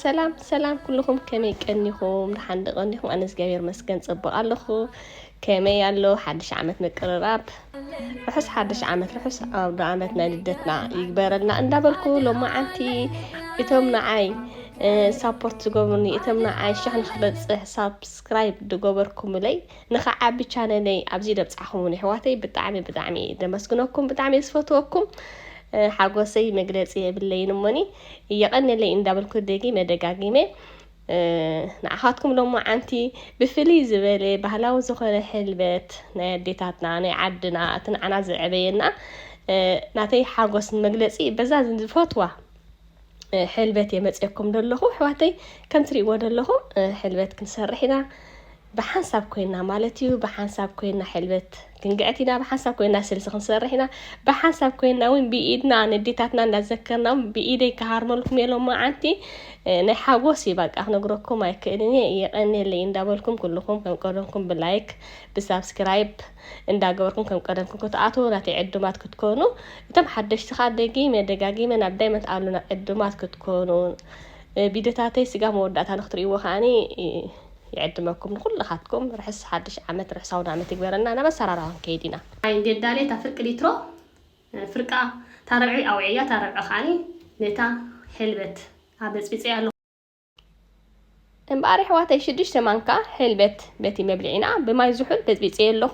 ሰላም ሰላም ኩልኹም ከመይ ቀኒኹም? ደሓን ዶ ቀኒኹም? ኣነ እግዚኣብሔር ይመስገን ጽቡቕ ኣለኹ። ከመይ ኣሎ ሓድሽ ዓመት ምቅርራብ ርሑስ ሓድሽ ዓመት ርሑስ ኣውደ ዓመት ናይ ልደትና ይግበረልና እንዳበልኩ ሎማዓንቲ እቶም ንዓይ ሳፖርት ዝገብሩኒ እቶም ንዓይ ሽሕ ንክበፅሕ ሳብስክራይብ ዝገበርኩምለይ ንክዓቢ ቻነለይ ኣብዚ ደብጻኹሙኒ ኣሕዋተይ ብጣዕሚ ብጣዕሚ እየ ደመስግነኩም ብጣዕሚ እየ ዝፈትወኩም ሓጎሰይ መግለጺ የብለይን እሞኒ የቐንየለይ እንዳበልኩ ደጊመ ደጋጊመ ንዓኻትኩም ሎማዓንቲ ብፍልይ ዝበለ ባህላዊ ዝኾነ ሕልበት ናይ ኣዴታትና ናይ ዓድና እቲ ንዓና ዘዕበየና ናተይ ሓጎስ ንመግለጺ በዛ ዝፈትዋ ሕልበት የመፅየኩም ደለኹ ኣሕዋተይ ከም ትሪእዎ ደለኹም ሕልበት ክንሰርሕ ኢና ብሓንሳብ ኮይና ማለት እዩ ብሓንሳብ ኮይና ሕልበት ክንግዕት ኢና ብሓንሳብ ኮይና ስልሲ ክንሰርሕ ኢና ብሓንሳብ ኮይና እውን ብኢድና ንዴታትና እንዳዘከርና ብኢደይ ክሃርመልኩም እየ ሎማዓንቲ ናይ ሓጎስ እዩ በቃ ክነግረኩም ኣይክእልን እየ የቀኔለይ እንዳበልኩም ኩልኩም ከም ቀደምኩም ብላይክ ብሳብስክራይብ እንዳገበርኩም ከም ቀደምኩም ክትኣትዉ ናተይ ዕዱማት ክትኮኑ እቶም ሓደሽቲ ከዓ ደጊመ ደጋጊመ ናብ ዳይመንት ኣሉና ዕዱማት ክትኮኑ ቪድዮታተይ ስጋ መወዳእታ ንክትርእይዎ ከዓኒ ይዕድመኩም ንኩልኻትኩም ርሕስ ሓድሽ ዓመት ርሕስ ኣውዳመት ይግበረልና ናብ ኣሰራርሃ ክንከይድ ኢና። ኣይ ገዳልየ እታ ፍርቂ ሊትሮ ፍርቃ እታ ርብዒ ኣውዕያ እታ ርብዒ ከኣ ነታ ሕልበት ኣበጽቢጸያ ኣለኹ። እምበኣር የሕዋተይ ሽዱሽተ ማንካ ሕልበት በቲ መብልዒና ብማይ ዝሑል በጽቢጸዮ ኣለኹ።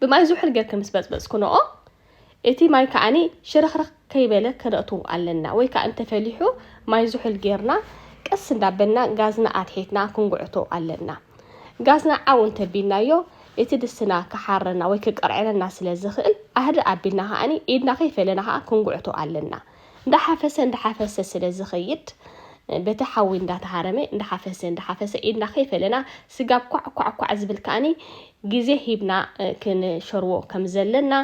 ብማይ ዝሑል ጌርኪ ምስ በጽበጽክንኦ እቲ ማይ ከኣኒ ሽርኽርኽ ከይበለ ከነእቱ ኣለና ወይ ከኣ እንተፈሊሑ ማይ ዝሑል ጌርና ቀስ እንዳበልና ጋዝና ኣትሒትና ክንጉዕቶ ኣለና። ጋዝና ዓው እንተቢልናዮ እቲ ድስትና ክሓረና ወይ ክቅርዕረና ስለ ዝኽእል ኣህድእ ኣቢልና ከኣኒ ኢድና ከይፈለና ከኣ ክንጉዕቶ ኣለና። እንዳሓፈሰ እንዳሓፈሰ ስለ ዝኸይድ በቲ ሓዊ እንዳተሃረመ እንዳሓፈሰ እንዳሓፈሰ ኢድና ከይፈለና ስጋብ ኳዕ ኳዕ ኳዕ ዝብል ከዓኒ ግዜ ሂብና ክንሸርዎ ከም ዘለና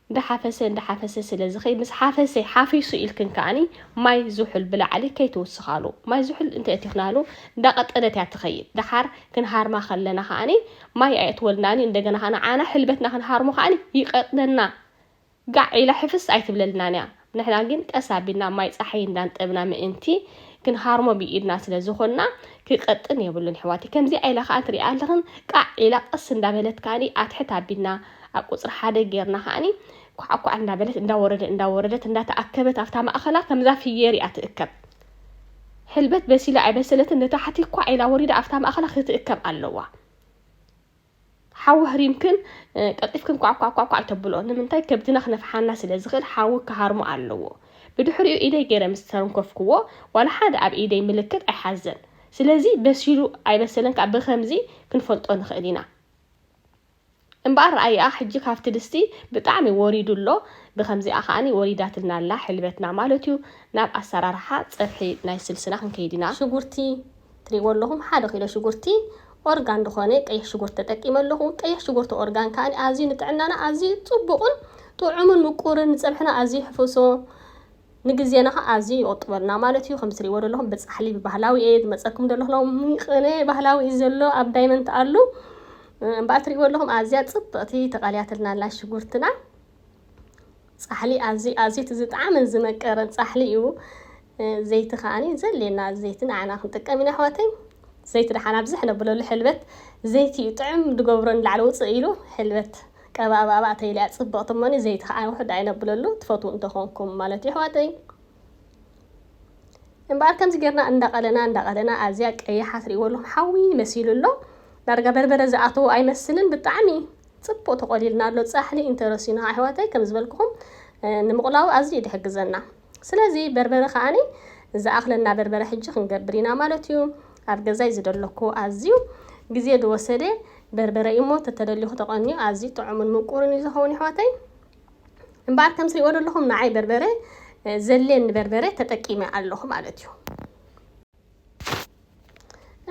እንዳሓፈሰ እንዳሓፈሰ ስለ ዝኸይድ ምስ ሓፈሰ ሓፊሱ ኢልክን ከዓኒ ማይ ዝሑል ብላዕሊ ከይትውስኻሉ ማይ ዝሑል እንተ እቲኽናሉ እንዳቐጠነት እያ ትኸይድ ደሓር ክንሃርማ ከለና ከዓኒ ማይ ኣየእትወልናኒ እንደገና ከዓኒ ዓና ሕልበትና ክንሃርሞ ከዓኒ ይቀጥነና ጋዕ ኢላ ሕፍስ ኣይትብለልናን እያ። ንሕና ግን ቀስ ኣቢልና ማይ ጸሓይ እንዳንጠብና ምእንቲ ክንሃርሞ ብኢድና ስለ ዝኾንና ክቀጥን የብሉን የሕዋተይ። ከምዚኣ ኢላ ከኣ ትሪኣ ኣለኽን ቃዕ ኢላ ቀስ እንዳበለት ከኣ ኣትሕት ኣቢልና ኣብ ቁጽሪ ሓደ ጌርና ከኣ ኳዕኳዕ እንዳበለት እንዳወረደ እንዳወረደት እንዳተኣከበት ኣብታ ማእኸላ ከምዛ ፍየር እያ ትእከብ። ሕልበት በሲላ ኣይበሰለትን ንታሕቲ ኳዕ ኢላ ወሪዳ ኣብታ ማእኸላ ክትእከብ ኣለዋ። ሓዊ ኣህሪምክን ቀልጢፍክን ኳዕኳዕኳዕኳዕ ኣይተብልኦ፣ ንምንታይ ከብድና ክነፍሓና ስለ ዝኽእል ሓዊ ክሃርሞ ኣለዎ። ብድሕሪኡ ኢደይ ገይረ ምስ ተንከፍክዎ ዋላ ሓደ ኣብ ኢደይ ምልክት ኣይሓዘን። ስለዚ በሲሉ ኣይበሰለን ከኣ ብኸምዚ ክንፈልጦ ንኽእል ኢና። እምበኣር ረኣይኣ ሕጂ ካብቲ ድስቲ ብጣዕሚ ወሪዱ ኣሎ፣ ብኸምዚኣ ከኣ ወሪዳትልና ኣላ ሕልበትና ማለት'ዩ። ናብ ኣሰራርሓ ጸብሒ ናይ ስልስና ክንከይድ ኢና። ሽጉርቲ ትሪእዎ ኣለኹም ሓደ ኪሎ ሽጉርቲ ኦርጋን ዝኾነ ቀይሕ ሽጉርቲ ተጠቂመ ኣለኹ። ቀይሕ ሽጉርቲ ኦርጋን ከዓኒ ኣዝዩ ንጥዕናና ኣዝዩ ጽቡቕን ጥዑምን ምቁርን ንጸብሕና ኣዝዩ ይሕፍሶ ንግዜና ኸ ኣዝዩ ይቑጥበልና ማለት እዩ። ከምዚ ትሪእዎ ዘለኹም ብጻሕሊ ብባህላዊ እየ ዝመጸኩም ዘለኹ ሎሚ ቅነ ባህላዊ እዩ ዘሎ ኣብ ዳይመንት ኣሉ እምበኣር ትሪእዎ ኣለኹም ኣዝያ ጽብቕቲ ተቓልያትልና ኣላ ሽጉርትና ጻሕሊ ኣዝዩ ኣዝዩ እቲ ዝጠዓመን ዝመቀረን ጻሕሊ እዩ ዘይቲ ከኣ ዘድልየና ዘይቲ ንዓና ክንጥቀም ኢና ኣሕዋተይ ዘይቲ ደሓን ኣብዚ ሕነብለሉ ሕልበት ዘይቲ እዩ ጥዑም ዝገብሮ ንላዕሊ ውጽእ ኢሉ ሕልበት ቀባእባእባእ ተይልያ ጽብቕቲ እሞኒ ዘይቲ ከኣ ውሑድ ኣይነብለሉ ትፈትዉ እንተኾንኩም ማለት እዩ ኣሕዋተይ እምበኣር ከምዚ ጌርና እንዳቐለና እንዳቐለና ኣዝያ ቀያሓ ትርእይዎ ኣለኹም ሓዊ መሲሉ ኣሎ ዳርጋ በርበረ ዝኣተዎ ኣይመስልን ብጣዕሚ ጽቡቅ ተቆሊልና ኣሎ ጻሕሊ ኢንተ ረሲና ኣሕዋተይ ከም ዝበልኩኹም ንምቁላዉ ኣዝዩ እዩ ድሕግዘና ስለዚ በርበረ ከኣኒ ዝኣኽለና በርበረ ሕጂ ክንገብር ኢና ማለት እዩ ኣብ ገዛይ ዝደለኩ ኣዝዩ ግዜ ድወሰደ በርበረ እዩ እሞ ተተደሊኹ ተቀንዩ ኣዝዩ ጥዑሙን ምቁርን እዩ ዝኸውን ኣሕዋተይ እምበኣር ከም ትሪእዎ ዘለኹም ንዓይ በርበረ ዘሌኒ በርበረ ተጠቂመ ኣለኹ ማለት እዩ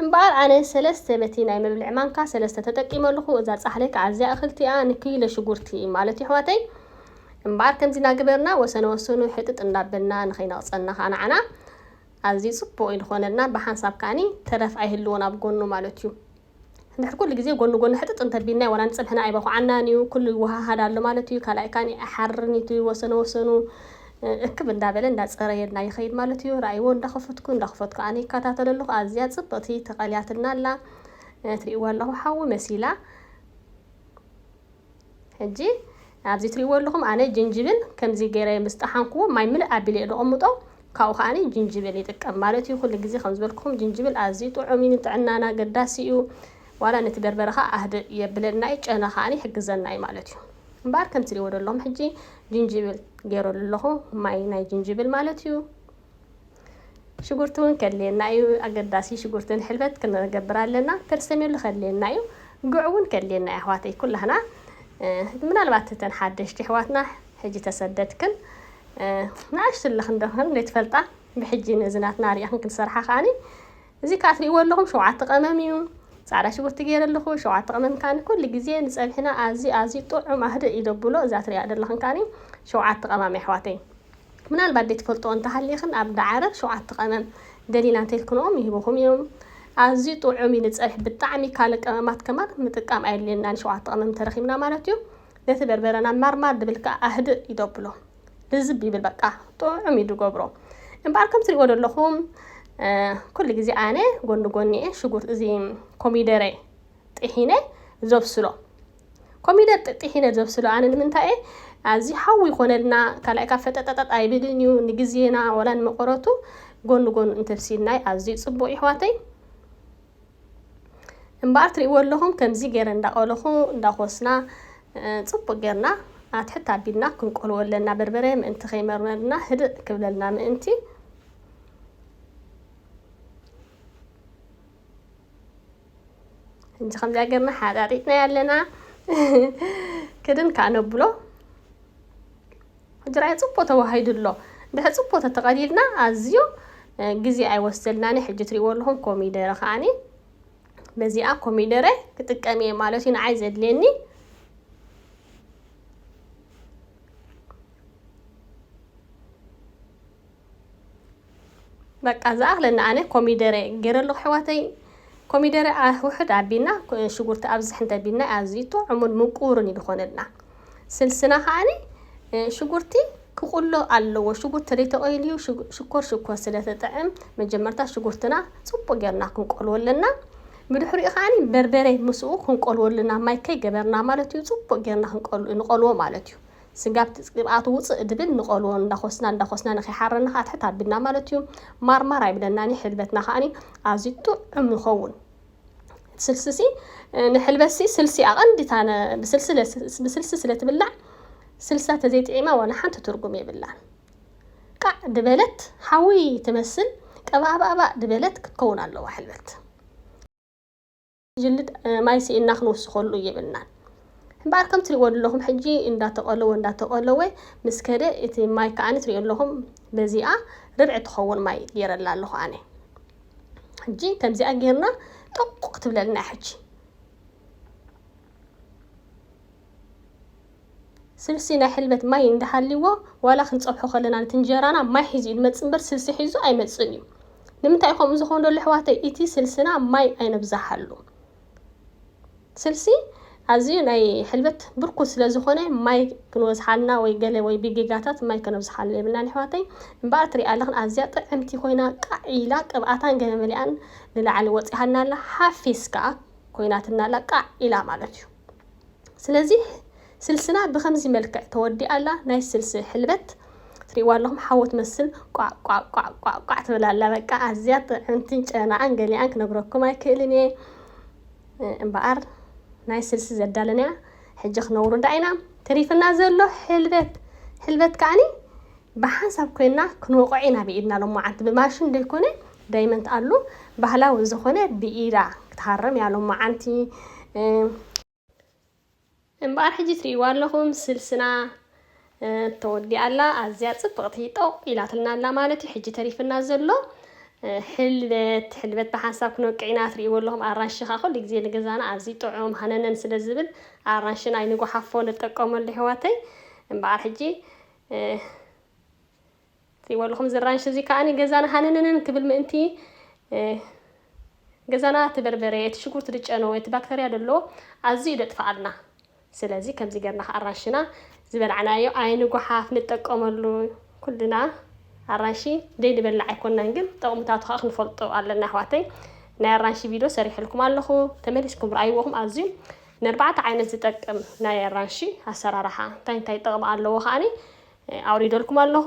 እምበኣር ኣነ ሰለስተ በቲ ናይ መብልዒ ማንካ ሰለስተ ተጠቂመ ኣለኹ እዛ ጻሕሊ ከኣ ኣዝያ እኽልቲ እያ ንኪሎ ሽጉርቲ ማለት እዩ ኣሕዋተይ እምበኣር ከምዚ እናገበርና ወሰነ ወሰኑ ሕጥጥ እንዳበልና ንኸይነቕጸና ከኣ ንዓና ኣዝዩ ጽቡቕ እዩ ዝኾነልና ብሓንሳብ ከኣኒ ተረፍ ኣይህልዎን ኣብ ጎኑ ማለት እዩ ድሕሪ ኩሉ ግዜ ጎኒ ጎኒ ሕጥጥ እንተቢልናዮ ዋላ ንጽብሕና ኣይበኹዓናን እዩ። ኩሉ ይወሃሃድ ኣሎ ማለት እዩ። ካልኣይ ካኒ ኣይሓርርን ኢቲ ወሰነ ወሰኑ እክብ እንዳበለ እንዳጸረየልና ይኸይድ ማለት እዩ። ራእይዎ እንዳኸፈትኩ እንዳኸፈትኩ ኣነ ይከታተሎ ኣለኹ። ኣዝያ ጽብቕቲ ተቐልያትና ኣላ። ትርእይዋ ኣለኹ ሓዊ መሲላ። ሕጂ ኣብዚ ትሪእዎ ኣለኹም ኣነ ጅንጅብል ከምዚ ገይረ ምስ ጠሓንክዎ ማይ ምልእ ኣቢለ እየ ደቐምጦ ካብኡ ከዓኒ ጅንጅብል ይጥቀም ማለት እዩ ኩሉ ግዜ ከም ዝበልኩኹም ጅንጅብል ኣዝዩ ጥዑም እዩ ንጥዕናና ኣገዳሲ እዩ ዋላ ነቲ በርበረ ከዓ ኣህድእ የብለና እዩ ጨና ከዓኒ ይሕግዘና እዩ ማለት እዩ እምበኣር ከም ትሪእዎ ዘለኹም ሕጂ ጅንጅብል ገይረሉ ኣለኹ ማይ ናይ ጅንጅብል ማለት እዩ ሽጉርቲ ውን ከድልየና እዩ ኣገዳሲ ሽጉርቲ ንሕልበት ክንገብር ኣለና ፐርሰሜሎ ከድልየና እዩ ጉዕ ውን ከድልየና እዩ ኣሕዋተይ ኩላህና ምናልባት እተን ሓደሽቲ ኣሕዋትና ሕጂ ተሰደድክን ንኣሽቱ ኣለኽን ዶኽን ዘይትፈልጣ ብሕጂ ነዚ ናትና ሪእኽን ክንሰርሓ ከዓኒ እዚ ከዓ ትሪእዎ ኣለኹም ሸውዓተ ቀመም እዩ ፃዕዳ ሽጉርቲ ገይረ ኣለኹ ሸውዓተ ቀመም ካኒ ኩሉ ግዜ ንፀብሒና ኣዝዩ ኣዝዩ ጥዑም ኣህድእ ኢለብሎ እዛ ትሪኣ ዘለኽን ካኒ ሸውዓተ ቀማም ኣሕዋተይ ምናልባት ዘይትፈልጥኦ እንተሃሊኽን ኣብ ዳዕረ ሸውዓተ ቀመም ገሊና እንተኢልክንኦም ይህቡኹም እዮም ኣዝዩ ጥዑም እዩ ንጸብሒ ብጣዕሚ ካልእ ቀመማት ከማን ምጥቃም ኣየድልየናን ሸውዓተ ቀመም እንተረኺብና ማለት እዩ ነቲ በርበረና ማርማር ድብል ከኣ ኣህድእ እዩ ደብሎ ልዝብ ይብል በቃ ጥዑም እዩ ድገብሮ እምበኣር ከም ትሪእዎ ዘለኹም ኩሉ ግዜ ኣነ ጎኒ ጎኒ እየ ሽጉርቲ እዚ ኮሚደረ ጥሒነ ዘብስሎ ኮሚደር ጥሒነ ዘብስሎ ኣነ ንምንታይ እየ ኣዚ ሓዊ ይኾነልና ካልኣይ ካብ ፈጠጠጠጥ ኣይብልን እዩ ንግዜና ወላ ንመቐረቱ ጎኑ ጎኑ እንተብሲልናይ ኣዝዩ ጽቡቕ ይሕዋተይ እምበኣር ትርእይዎ ኣለኹም ከምዚ ገይረ እንዳቐለኹ እንዳኾስና ጽቡቕ ጌርና ኣትሕት ኣቢልና ክንቆልዎ ኣለና በርበረ ምእንቲ ከይመርመርና ህድእ ክብለልና ምእንቲ እንጂ ከምዚኣ ገርና ሓጣጢጥና ኣለና ክድን ከዓ ነብሎ ሕጂ ራይ ፅቡቅ ተዋሂዱ ኣሎ ድሕሪ ፅቡቅ ተተቀሊልና ኣዝዮ ግዜ ኣይወስደልናኒ ሕጂ ትሪእዎ ኣለኹም ኮሚደረ ከዓኒ በዚኣ ኮሚደረ ክጥቀም እየ ማለት እዩ ንዓይ ዘድልየኒ በቃ ዝኣኽለኒ ኣነ ኮሚደረ ገይረሉ ኣሕዋተይ ኮሚደረ ውሕድ ኣቢልና ሽጉርቲ ኣብዝሕ እንተቢልና ኣዝዩ ጥዑሙን ምቁርን እዩ ዝኾነልና ስልስና ከዓኒ ሽጉርቲ ክቁሎ ኣለዎ ሽጉርቲ ዘይተቆይልዩ ሽኮር ሽኮር ስለተጥዕም መጀመርታ ሽጉርትና ፅቡቅ ጌርና ክንቆልዎ ኣለና ብድሕሪኡ ከዓኒ በርበረ ምስኡ ክንቆልዎ ኣለና ማይ ከይገበርና ማለት እዩ ፅቡቅ ጌርና ንቆልዎ ማለት እዩ ስጋብ ቅብኣቱ ውፅእ ድብል ንቐልዎ እንዳኾስና እንዳኾስና ንከይሓረና ከዓ ትሕት ኣቢልና ማለት እዩ ማርማር ኣይብለናን እዩ ሕልበትና ከዓኒ ኣዝዩ ጥዑም ይኸውን ስልሲሲ ንሕልበሲ ስልሲ ኣቐንዲ እታ ብስልሲ ስለ ትብላዕ ስልሳ ተዘይጥዒማ ዋላ ሓንቲ ትርጉም የብላን ቃዕ ድበለት ሓዊ ትመስል ቀባእባእባእ ድበለት ክትከውን ኣለዋ ሕልበት ጅልድ ማይ ስኢንና ክንውስኸሉ የብልናን። እምበኣር ከም ትሪእዎ ኣለኹም ሕጂ እንዳተቐለወ እንዳተቐለወ ምስ ከደ እቲ ማይ ከዓኒ ትሪእዮ ኣለኹም በዚኣ ርብዒ ትኸውን ማይ ገይረላ ኣለኹ ኣነ። ሕጂ ከምዚኣ ጌርና ጠቑ ክትብለልና ሕጂ። ስልሲ ናይ ሕልበት ማይ እንዳሃልይዎ ዋላ ክንጸብሖ ከለና ነቲ እንጀራና ማይ ሒዙ እዩ ዝመጽእ እምበር ስልሲ ሒዙ ኣይመጽእን እዩ። ንምንታይ እዩ ከምኡ ዝኾን ዘሎ ኣሕዋተይ እቲ ስልስና ማይ ኣይነብዛሓሉ። ስልሲ ኣዝዩ ናይ ሕልበት ብርኩት ስለ ዝኾነ ማይ ክንወዝሓልና ወይ ገለ ወይ ብጌጋታት ማይ ከነብዝሓሉ የብልናን ኣሕዋተይ። እምበኣር ትሪኣ ኣለኽን ኣዝያ ጥዕምቲ ኮይና ቃዕ ኢላ ቅብኣታን ገለ መሊኣን ንላዕሊ ወጺሃልና ኣላ ሓፊስ ከኣ ኮይናትና ኣላ ቃዕ ኢላ ማለት እዩ። ስለዚ ስልስና ብከምዚ መልክዕ ተወዲኣ ኣላ ናይ ስልሲ ሕልበት ትሪእዋ ኣለኹም ሓዊ ትመስል ቋዕቋዕቋዕቋዕ ትብል ኣላ በቃ ኣዝያ ጥዕምቲን ጨናኣን ገሊኣን ክነግረኩም ኣይክእልን እየ እምበኣር ናይ ስልሲ ዘዳለናያ ሕጂ ክነውርዳ ኢና ተሪፍና ዘሎ ሕልበት ሕልበት ከዓኒ ብሓንሳብ ኮይና ክንወቕዖ ኢና ብኢድና ሎማዓንቲ ብማሽን ዘይኮነ ዳይመንት ኣሉ ባህላዊ ዝኾነ ብኢዳ ክትሃርም እያ ሎማዓንቲ እምበኣር ሕጂ ትርእይዋ ኣለኹም ስልስና ተወዲኣ ኣላ ኣዝያ ጽብቕቲ ጦቕ ኢላትልና ኣላ ማለት እዩ ሕጂ ተሪፍና ዘሎ ሕልበት ሕልበት ብሓንሳብ ክንወቅዕ ኢና ትርእይዎ ኣለኹም ኣራንሺ ከዓ ኩሉ ግዜ ንገዛና ኣዝዩ ጥዑም ሃነነን ስለ ዝብል ኣራንሺ ናይ ንጓሓፎ ንጠቀመሉ ኣሕዋተይ እምበኣር ሕጂ ጽይበሉኹም እዚ ራንሽ እዚ ከኣኒ ገዛና ሃነነነን ክብል ምእንቲ ገዛና እቲ በርበሬ እቲ ሽጉርቲ ድጨነወ እቲ ባክተርያ ደሎ ኣዝዩ ደጥፍኣልና ስለዚ ከምዚ ገርና ከኣ ኣራንሽና ዝበላዕናዮ ኣይንጉሓፍ ንጠቀመሉ ኩልና ኣራንሺ ደይንበላዕ ኣይኮናን ግን ጠቕምታቱ ከኣ ክንፈልጦ ኣለና ኣሕዋተይ ናይ ኣራንሺ ቪድዮ ሰሪሕልኩም ኣለኹ ተመሊስኩም ረኣይዎኹም ኣዝዩ ንኣርባዕተ ዓይነት ዝጠቅም ናይ ኣራንሺ ኣሰራርሓ እንታይ እንታይ ጠቕሚ ኣለዎ ከኣኒ ኣውሪደልኩም ኣለኹ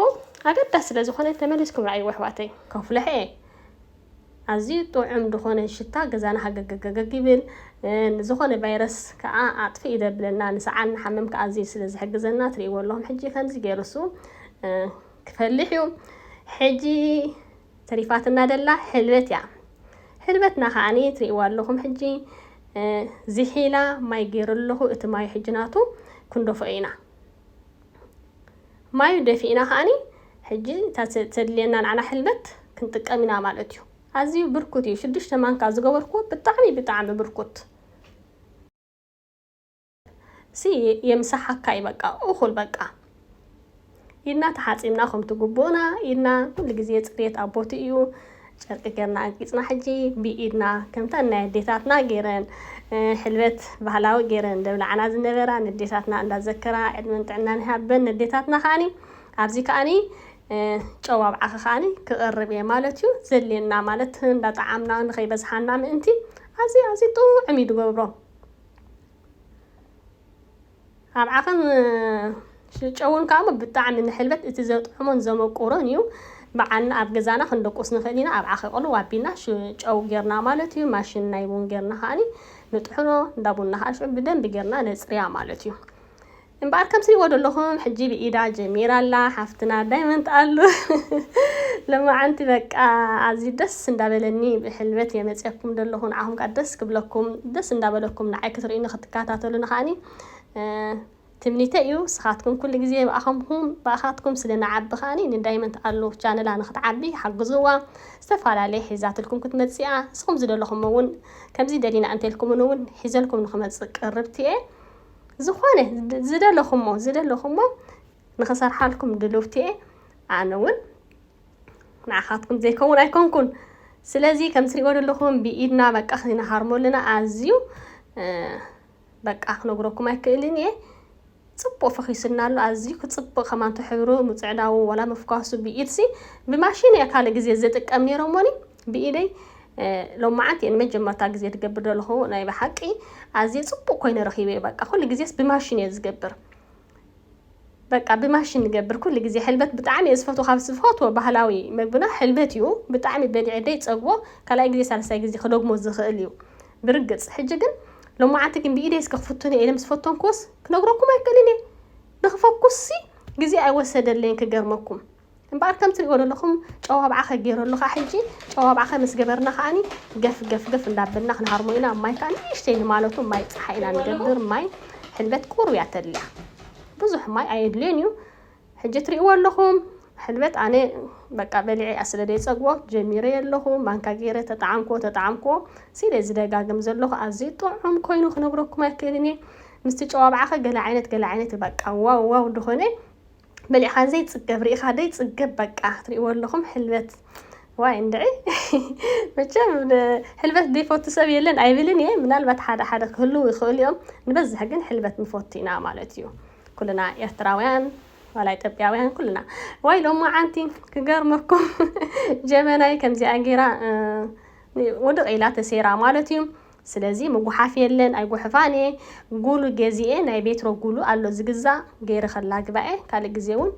ኣገዳሲ ስለ ዝኾነ ተመሊስኩም ረኣይዎ ኣሕዋተይ። ከፍለሐ ኣዝዩ ጥዑም ድኾነ ሽታ ገዛና ሃገገገገግ ይብል ንዝኾነ ቫይረስ ከኣ ኣጥፍእ ይደብለና ንሰዓል ንሓመም ከኣ ኣዝዩ ስለ ዝሕግዘና ትርእይዎ ኣለኹም ሕጂ ከምዚ ገይሩ እሱ ክፈልሕ እዩ ሕጂ ተሪፋትና ደላ ሕልበት እያ ሕልበትና ከዓኒ ትርእይዎ ኣለኹም ሕጂ ዝሒላ ማይ ገይሩ ኣለኹ እቲ ማይ ሕጂ ናቱ ክንደፍኦ ኢና ማዩ ደፊእና ከኣኒ ሕጂ እታ ተድልየና ንዓና ሕልበት ክንጥቀም ኢና ማለት እዩ። ኣዝዩ ብርኩት እዩ ሽዱሽተ ማንካ ዝገበርክዎ ብጣዕሚ ብጣዕሚ ብርኩት። ሲ የምሳሓካይ በቃ ኡኹል በቃ። ኢድና ተሓጺብና ከምቲ ጉቡእና ኢድና ኩሉ ግዜ ጽርየት ኣብ ቦትኡ እዩ። ጨርቂ ገርና ኣጊጽና ሕጂ ብኢድና ከምተን ናይ ኣዴታትና ገረን ሕልበት ባህላዊ ገረን ደብላዓና ዝነበራ ነዴታትና እንዳዘከራ ዕድመን ጥዕናን ይሃበን ነዴታትና ከኣኒ ኣብዚ ከኣኒ ጨው ኣብ ዓኺ ከኣኒ ክቐርብ እየ ማለት እዩ ዘልየና ማለት እንዳጠዓምና ንኸይበዝሓና ምእንቲ ኣዚ ኣዚ ጥዑም እዩ ድገብሮ ኣብ ዓክም ሽጨውን ካኣሞ ብጣዕሚ ንሕልበት እቲ ዘጥዕሞን ዘመቁሮን እዩ ባዓልና ኣብ ገዛና ክንደቁስ ንክእል ኢና ኣብ ዓኪ ቅልው ኣቢልና ሽጨው ገርና ማለት እዩ ማሽን ናይ ቡን ገርና ካኣኒ ንጥሕኖ እንዳ ቡና ካኣ ሽዑ ብደንቢ ገርና ነጽርያ ማለት እዩ እምበኣር ከም ትሪእዎ ዘለኹም ሕጂ ብኢዳ ጀሚራ ኣላ ሓፍትና ዳይመንት ኣሉ ለማዓንቲ በቃ ኣዝዩ ደስ ደስ እንዳበለኒ ብሕልበት እየ መፅየኩም ደለኩ ንዓኩም ካዓ ደስ ክብለኩም ደስ እንዳበለኩም ንዓይ ክትሪኡኒ ክትካታተሉኒ ካዓኒ ትምኒተይ እዩ ንስካትኩም ኩሉ ግዜ ብኣከምኩም ብኣካትኩም ስለ ንዓቢ ካዓኒ ንዳይመንት ኣሉ ቻነላ ንክትዓቢ ሓግዝዋ ዝተፋላለየ ሒዛትልኩም ክትመፅእ እያ ንስኩም ዝደለኩሞ እውን ከምዚ ደሊና እንተልኩሙኒ እውን ሒዘልኩም ንክመፅእ ቅርብቲ እየ ዝኮነ ዝደለኩሞ ዝደለኩሞ ንክሰርሓልኩም ድልውቲ እየ ኣነ እውን ንዓኻትኩም ዘይከውን ኣይኮንኩን ስለዚ ከም ትሪእዎ ዘለኹም ብኢድና በቃ ክነሃርሞ ኣለና ኣዝዩ በቃ ክነግረኩም ኣይክእልን እየ ፅቡቅ ፈኺሱና ኣሎ ኣዝዩ ክፅብቅ ከማንቶ ሕብሩ ምፅዕዳው ወላ ምፍኳሱ ብኢድሲ ብማሽን እየ ካልእ ግዜ ዝጥቀም ነይረ እሞኒ ብኢደይ ሎማዓንቲ እየ ንመጀመርታ ግዜ ትገብር ዘለኹ ናይ ብሓቂ ኣዝየ ፅቡቅ ኮይነ ረኺበ በቃ ኩሉ ግዜስ ብማሽን እየ ዝገብር በቃ ብማሽን ንገብር ኩሉ ግዜ ሕልበት ብጣዕሚ እየ ዝፈትዎ ካብ ዝፈትዎ ባህላዊ መግብና ሕልበት እዩ ብጣዕሚ በሊዐ ደይፀግቦ ካልኣይ ግዜ ሳልሳይ ግዜ ክደግሞ ዝኽእል እዩ ብርግፅ ሕጂ ግን ሎማዓንቲ ግን ብኢደይ እስከ ክፍትኖ እየ ኢለ ምስ ፈተንኩዎስ ክነግረኩም ኣይክእልን እየ ንክፈኩስሲ ግዜ ኣይወሰደለይን ክገርመኩም እምበኣር ከም ትሪእዎ ዘለኹም ጨው ኣብዓኸ ገይሩ ኣሎ ከኣ ሕጂ ጨው ኣብዓኸ ምስ ገበርና ከኣኒ ገፍ ገፍ ገፍ እንዳበልና ክንሃርሞ ኢና ማይ ከኣ ንእሽተይ ንማለቱ ማይ ጸሓይ ኢና ንገብር ማይ ሕልበት ቁሩብ እያ ተድልያ ብዙሕ ማይ ኣየድልዮን እዩ ሕጂ ትሪእዎ ኣለኹም ሕልበት ኣነ በቃ በሊዐ እያ ስለ ዘይጸግቦ ጀሚረ ኣለኹ ማንካ ገይረ ተጠዓምክዎ ተጠዓምክዎ ሲለ ዝደጋግም ዘለኹ ኣዝዩ ጥዑም ኮይኑ ክነግረኩም ኣይክእልን እየ ምስቲ ጨዋብዓኸ ገለ ዓይነት ገለ ዓይነት በቃ ዋው ዋው ድኾነ በሊዕኻን ዘይጽገብ ርኢኻ ዘይጽገብ በቃ ትሪእዎ ኣለኹም ሕልበት ዋይ እንድዒ መቸም ሕልበት ዘይፈቱ ሰብ የለን ኣይብልን እየ ምናልባት ሓደ ሓደ ክህልው ይኽእሉ እዮም ንበዝሕ ግን ሕልበት ንፈቱ ኢና ማለት እዩ ኩልና ኤርትራውያን ዋላ ኢትዮጵያውያን ኩልና ዋይ ሎሞ ዓንቲ ክገርመኩም ጀበናይ ከምዚኣ ጌራ ውድቕ ኢላ ተሴራ ማለት እዩ ስለዚ ምጉሓፍ የለን ኣይጉሕፋን እየ ጉሉ ገዚኤ ናይ ቤትሮ ጉሉ ኣሎ ዝግዛእ ገይረ ከላግባ እየ ካልእ ግዜ ውን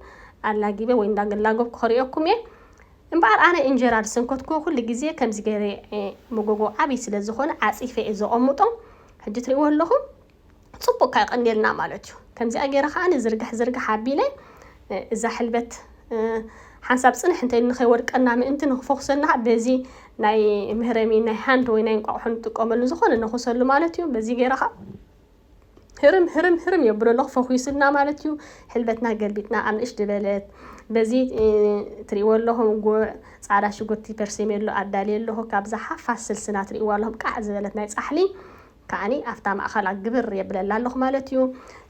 ኣላጊበ ወይ እንዳገላገብኩ ከርእየኩም እየ እምበኣር ኣነ እንጀራ ዝሰንከትኩዎ ኩሉ ግዜ ከምዚ ገይረ እየ መጎጎ ዓብይ ስለ ዝኾነ ዓፂፈ እየ ዘቐምጦ ሕጂ ትርእይዎ ኣለኹም ጽቡቅ ከኣ ቀኒልና ማለት እዩ ከምዚኣ ጌረ ከኣ ዝርግሕ ዝርግሕ ኣቢለ እዛ ሕልበት ሓንሳብ ጽንሕ እንተ ኢሉ ንኸይወድቀና ምእንቲ ንኽፈኹሰና በዚ ናይ ምህረሚ ናይ ሃንድ ወይ ናይ እንቋቑሖ ንጥቀመሉ ዝኾነ ነኹሰሉ ማለት እዩ በዚ ጌረ ከኣ ህርም ህርም ህርም የብሎ ኣለኹ ፈኺሱልና ማለት እዩ ሕልበትና ገልቢጥና ኣብ ንእሽቲ በለት በዚ ትሪእዎ ኣለኹም ጉዕ ፃዕዳ ሽጉርቲ ፐርሴሜሎ ኣዳልየ ኣለኹ ካብዛ ሓፋስ ስልስና ትሪእዎ ኣለኹም ቃዕ ዝበለት ናይ ፃሕሊ ከኣኒ ኣፍታ ማእኸላ ግብር የብለላ ኣለኹ ማለት እዩ።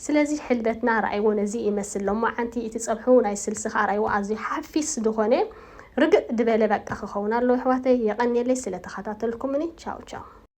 ስለዚ ሕልበትና ርኣይዎ ነዚ ይመስል ሎማዓንቲ እቲ ፀብሑ ናይ ስልሲ ከኣ ርኣይዎ ኣዝዩ ሓፊስ ድኾነ ርግእ ድበለ በቃ ክኸውን ኣለዎ የሕዋተይ የቀንየለይ ስለ ተኸታተልኩምኒ ቻው ቻው።